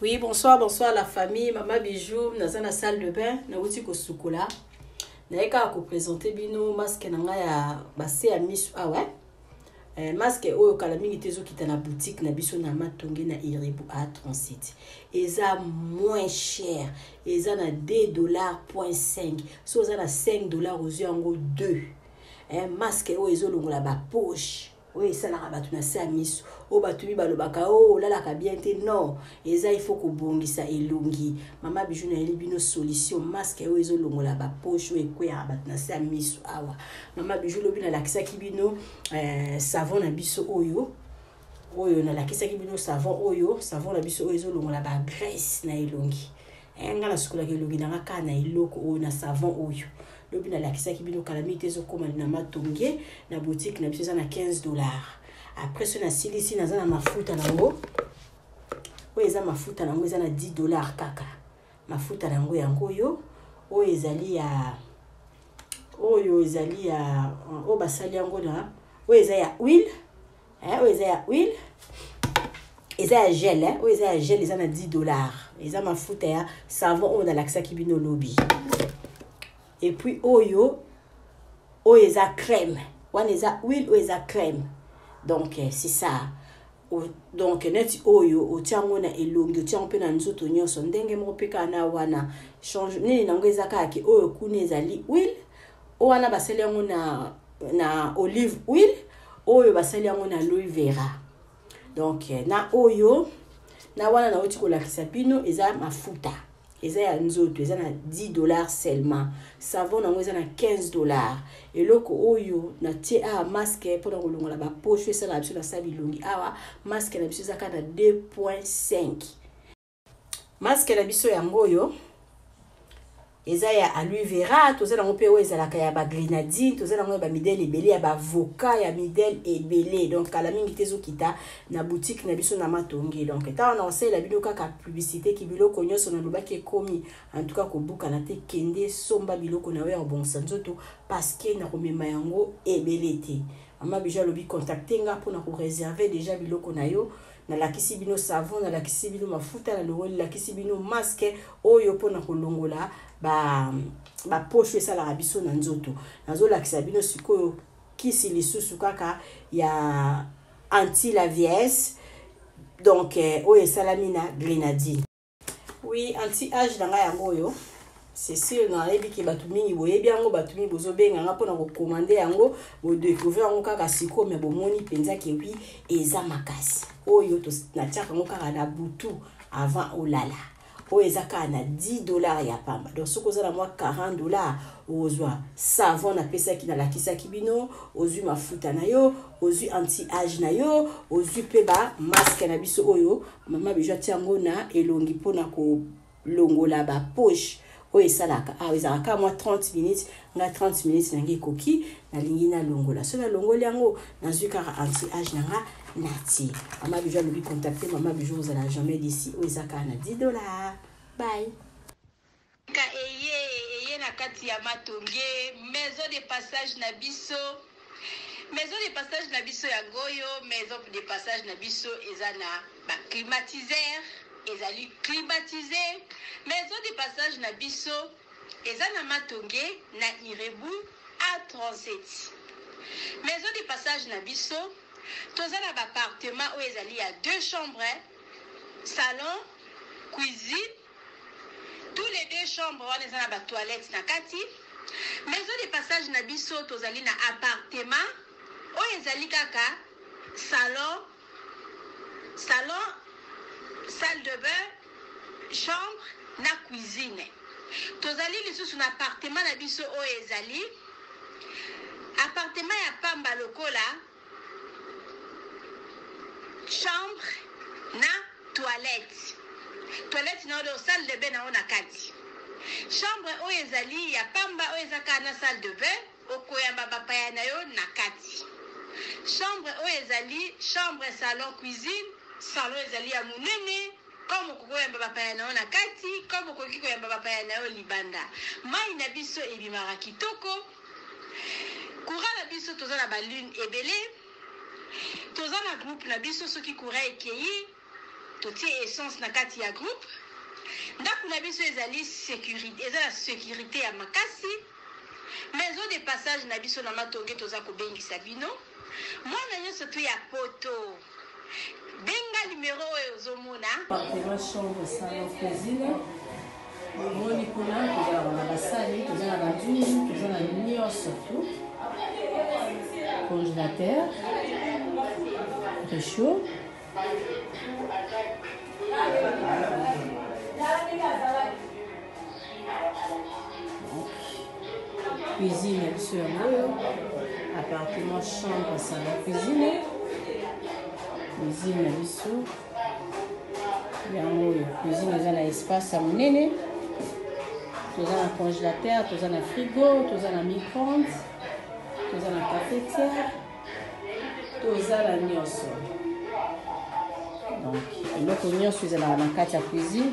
Oui, bonsoir, bonsoir la famille, maman Bijou, naza na salle de bain, na wuti ko sukola. Na yeka ko présenter bino masque na nga ya basse ya misu ah ouais. Eh, masque oyo kala mingi te ezokita na boutique na biso na matonge na iribu a 37 eza moins cher eza na 2 dollars point 5 so oza na 5 dollars ozwi yango 2 eh, masque oyo ezolongola bapoche oyo esalaka bato na se ya miso oyo bato mi balobaka o oh, olalaka bien te non eza ifo kobongisa elongi mama biju nayeli bino solution maske oyo ezolongola bapoche oyo ekweyaka bato na se ya miso awa mama biju lobi nalakisaki bino eh, savon na biso oyo oyo nalakisaki bino savon oyo savon na biso oyo ezolongola bagrece na elongi eh, nga nasukolaka elongi na nga kaka na eloko oyo na savon oyo lobi nalakisaki bino kala mingi te ezokoma na matonge na botike na biso eza na 15 dollar après soki nasilisi naza na mafuta na yango oyo eza mafuta na yango eza na 10 dollar kaka mafuta na yango yango oyo oyo ezali ya oyo ezali ya oyo basali yango na oyo eza ya huile hein, oyo eza ya huile eza ya gel hein? oyo eza ya gel eza na 10 dollars eza mafuta ya savon oyo nalakisaki bino lobi epuis oyo oyo eza crème wana eza huile oyo eza crème donc eh, c'est ça donc neti oyo otia yango na elongi otia yango mpe na nzoto nyonso ndenge moko mpe kaka na wana change nini na yango eza kaka ke oyo kuna ezali huile oyo wana basali yango na na olive oil oyo basali yango na louis vera donc eh, na oyo na wana nauti kolakisa bino eza mafuta eza ya nzoto eza na 10 dollar seulement savon yango eza na 15 dollar eloko oyo natie awa maske mpona kolongola baposho esala na biso na sala bilongi awa maske na biso eza kaka na 2.5 masque na biso yango oyo eza ya aloe vera toza nango mpe oyo ezalaka ya bagrenadine toza nango ya bamidele ebele ya bavoka ya midele ebele donc kala mingi te ezokita na boutique na biso na matongi donc ntango na kosalela bino kaka publicité ki biloko nyonso nalobaki ekomi antuka kobukana te kende somba biloko na yo ya kobongisa nzoto parceke nakomema yango ebele te mama bijo alobi contacte nga mpona koreserve deja biloko na yo nalakisi bino savon nalakisi bino mafuta na longo nalakisi bino maske oyo mpona kolongola baposho ba esalaka biso na nzoto nazolakisa bino sikoyo kisi lisusu kaka ya anti la viesse donc eh, oyo esalami na grenadine oui anti age na ngai yango oyo c'est sûr nayebi ke bato mingi boyebi yango bato mingi bozobenga nga mpona kokomande yango bodecouvrir yango kaka sikoyo me bomoni mpenza ke wi eza makasi oyo natiaka yango kaka na butu avant olala oyo eza kaka na 10 dollars ya pamba donc soki oza na mwa 40 dollars ozwa savon napesaki nalakisaki bino ozwi mafuta na yo ozwi anti age na yo ozwi mpe bamaske na biso oyo Maman Bijou atia yango na elongi mpo na kolongola ba poche oyo esalaka awa ezalaka kaka mwa 30 minutes nga 30 minutes na ngai ekoki nalingi nalongola soki nalongoli yango nazwi kaka anti age na nga natie mama bijou alobi contacte mama bijou ozala jamais d'ici oyo eza kaka na 10 dollar bye Ka eye eye na kati ya matonge maison de passage na biso maison de passage na biso yango oyo maison de passage na biso eza na ba climatiseur ezali climatise maison de passage na biso eza na matonge na irebu a 37 maison de passage na biso toza na ba appartement oyo ezali ya deux chambres salon cuisine Tout les deux chambre wana eza na ba toilettes na kati. Maison de passage na biso tozali na appartement oyo ezali kaka salon, salon, salle de bain, chambre na cuisine. Tozali lisusu na appartement na biso oyo ezali appartement ya pamba lokola chambre na toilette toilette na yo donc salle de bain na yo na kati chambre oyo ezali ya pamba oyo eza kaka na salle de bain okoyamba bapaya na yo na kati chambre oyo ezali chambre salon cuisine salon ezali ya monene comme okoki koyamba bapaya na yo na kati comme okoki koyamba bapaya na yo libanda mai na biso ebimaka kitoko Courant na biso toza na ba lune ebele toza na groupe na biso soki courant ekeyi totie essence na kati ya groupe ndako na biso ezali securite eza na securite ya makasi maison de passage na biso na matonge toza kobengisa bino mwana nyonso tu ya poto Benga numero oyo ozo mona. Appartement chambre salon cuisine. Omoni kuna tozalaka na basani, toza na banzungu, toza na nyonso tu. Congélateur, réchaud. cuisine ya biso yango oyo appartement chambre salon cuisine cuisine na biso yango oyo cuisine eza na espace ya monene toza na congélateur toza na frigo toza na micronde toza na cafetière toza na nyonso donc eloko nyonso ezalaka na kati ya cuisine